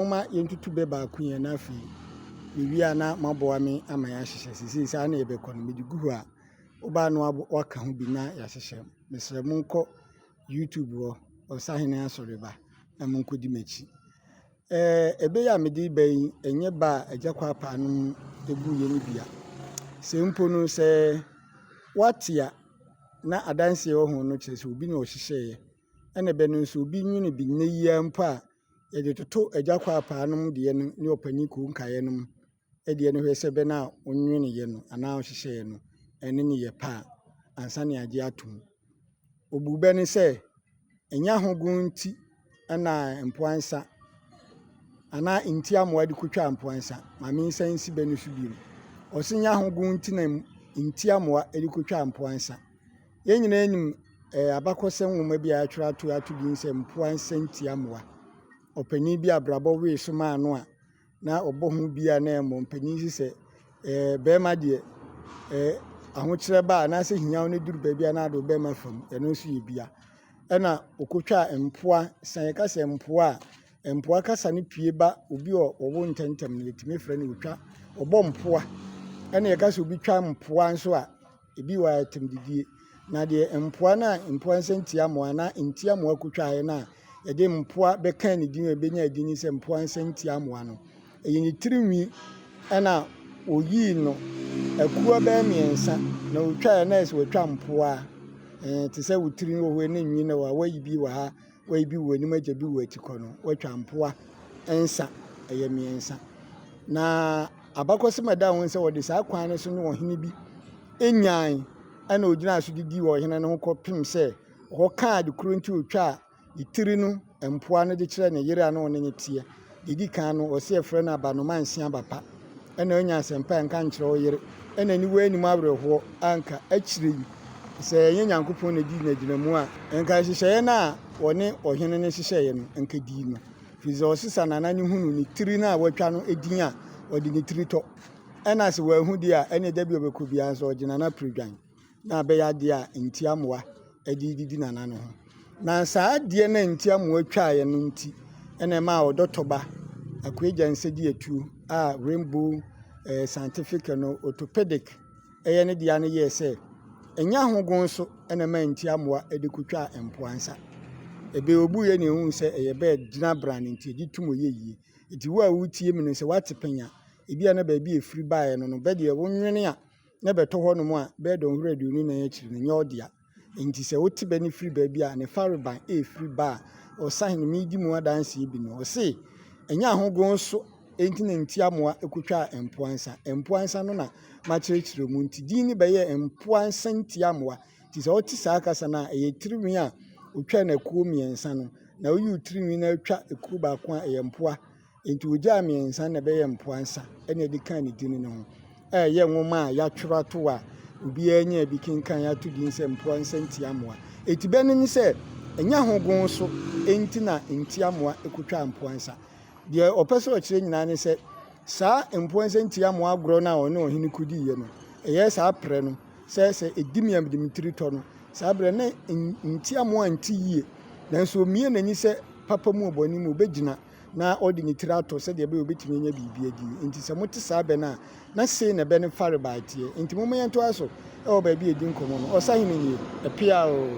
Momma yɛntutu bɛ baako yɛn na afei yɛwie a na moaboa me ama yɛahyehyɛ. Seesei saa na yɛbɛkɔ no, mede gu hɔ a, wobaa no waka ho bi na yɛahyehyɛ. Mesrɛ monkɔ YouTube hɔ, Ɔsahene Asɔreba, na monkɔdi m'akyi. Ɛɛ ebe ya mede ba yi ɛnyɛ ba a agya kɔ apaa no mu eguiɛ no bia sɛ mpo no sɛ wate a na adanseɛ wɔ ho no kyerɛ sɛ obi na ɔhyehyɛeɛ ɛna ɛbɛ no nso obi nwene bi nnɛ yia mpo a Yɛdze toto Agya Kwaapaa no deɛ no ne Ɔpanyin Kuo Nkaeɛ no deɛ no hwɛ sɛ bɛ no a wonweneyɛ no anaa wɔhyehyɛeɛ no ne no yɛ pɛ a, ansa na yɛagye atom. Obuu bɛ no sɛ, Ɛnyɛ ahogow nti na mpoa nsa anaa nti amoa de kotwaa mpoa nsa. Ma mensan nsi bɛ no so bio. Ɔse nyɛ ahogow nti na nti amoa de kotwaa mpoa nsa. Yɛn nyinaa nim abakɔsɛm nwoma bi a wɔatwerɛ ato ato din sɛ Mpoa Nsɛntia Mmoa. Ɔpanin bi a abrabɔ wee so maa no a na ɔbɔ ho bi a na ɛyɛ mmɔmpanin si sɛ barima deɛ ahokyerɛ ba a anaasɛ hiaw no duru baabi a na ade ɔbɛma fa mu, ɛno nso yɛ bia. Ɛna ɔkɔtwaa mpoa, sɛ yɛka sɛ mpoa a, mpoa kasa no pue ba obi a ɔwo ntɛmntɛm no yɛtumi frɛ no ɔtwa, ɔbɔ mpoa. Ɛna yɛka sɛ obi twa mpoa nso a, Ebi wɔ a ɛtem didie. Na deɛ mpoa no a mpoa nsɛntiamoa anaa ntiamoa kutwaeɛ no a yɛde mpoa bɛkaa ne din a ɛbɛnya din ne sɛ mpoa nsɛntiamoa no, ɛyɛ ne tiri nwi ɛna wɔyii no akuo bɛyɛ mmiɛnsa na wɔtwaeɛ na ɛsɛ wɔtwa mpoa te sɛ wo tiri wɔ hɔ ne nwi na wɔayi bi wɔ ha Wei bi wɔ anim agya bi wɔ atikɔ no watwa mpoa nsa ɛyɛ mmiɛnsa na abakɔsɛm a ɛda ho sɛ wɔde saa kwan no so ne ɔhene bi nyan ɛna ogyina so didi wɔ ɔhene no ho kɔpem sɛ ɔkɔkaa ade koro nti otwaa ne tiri no mpoa no de kyerɛ ne yere a na ɔne no teɛ Deɛ ɛdi kan no, wɔse yɛfrɛ no abanoma nse aba pa. Ɛna woanya asɛmpa a nka nkyerɛ wo yere. Ɛna aniwa anim awerɛhoɔ a nka akyire yi sɛ ɛnyɛ Nyankopɔn na dii n'agyinamu a, nka nhyehyɛeɛ no a wɔne ɔhene no hyehyɛeɛ no, nka ɛdii no. Firi sɛ ɔsesa nana no hunu ne tiri no a watwa no din a, ɔde ne tiri tɔ. Ɛna sɛ wanhu deɛ a, ɛneɛ da bi a ɔbɛkɔ biara nso ɔgye nana pire dwan. na abɛyɛ adeɛ a ntiamoa de redidi nana no ho. Na saa adeɛ no a ntiamoa twaeɛ no nti na ɛmaa ɔdɔtɔba Akuagya Nsɛdiatuo a Rainbow eh, Scientific no Orthopedic ɛyɛ ne deɛ no yɛɛ sɛ ɛnyɛ ahogon so na ɛmaa ntiamoa de kɔtwaa mpoa nsa. Ɛbɛyɛ obuiɛ na ɛhu sɛ ɛyɛ bɛɛ gyina brane nti ɛgye tom yɛ yie. Nti wo a wotie me no sɛ woate panya, ebi a na baabi a ɛfiri baeɛ no no bɛdeɛ wonwene a na bɛtɔ hɔnom a, bɛyɛ dɔnhwere aduonu nan akyiri no, nyɛ ɔdea. Enti sɛ wote bɛ no firi baabi a ne farebae refiri ba a, ɔsahene Medi mu adanseɛ bi no, ɔse, Ɛnyɛ ahogoon so enti na ntiamoa kotwaa mpoa nsa, mpoa nsa no na makyerɛkyerɛ mu nti din no bɛyɛɛ mpoa nsa ntiamoa. Nti sɛ wote saa kasa no a, ɛyɛ tirinwi a otwaa no akuo mmiɛnsa no, na woyi wo tirinwi na atwa kuo baako a, ɛyɛ mpoa. Enti wogyaa mmiɛnsa na ɛbɛyɛ mpoa nsa na ɛde kaa ne din no ho. Ɛyɛ nwoma a yɛatwerɛ ato a obiara nyaa bi kenkan ato din sɛ Mpoa Nsa Ntiamoa. Eti bɛ no ne sɛ ɛnyɛ ahogon so enti na ntiamoa kotwaa mpoa nsa. Deɛ ɔpɛ sɛ ɔkyerɛ nyinaa ne sɛ saa mpoa nsa ntiamoa agorɔ no a ɔne ɔhene kodiiɛ no ɛyɛ saa prɛ no sɛ sɛ ɛdi miamdem tiri tɔ no saa berɛ na ntiamoa nte yie nanso omie n'ani sɛ papa mu ɔbɔne mu obɛgyina na ɔde ne tiri atɔ sɛdeɛ ɛbɛyɛ ɔbɛtumi anya biribi adi. Nti sɛ mote saa bɛ no a, na sei na bɛ no farebae teɛ. Nti momma yɛntoa so wɔ baabi a ɛdi nkɔmmɔ no. Ɔsahene nie, ɛpea oo.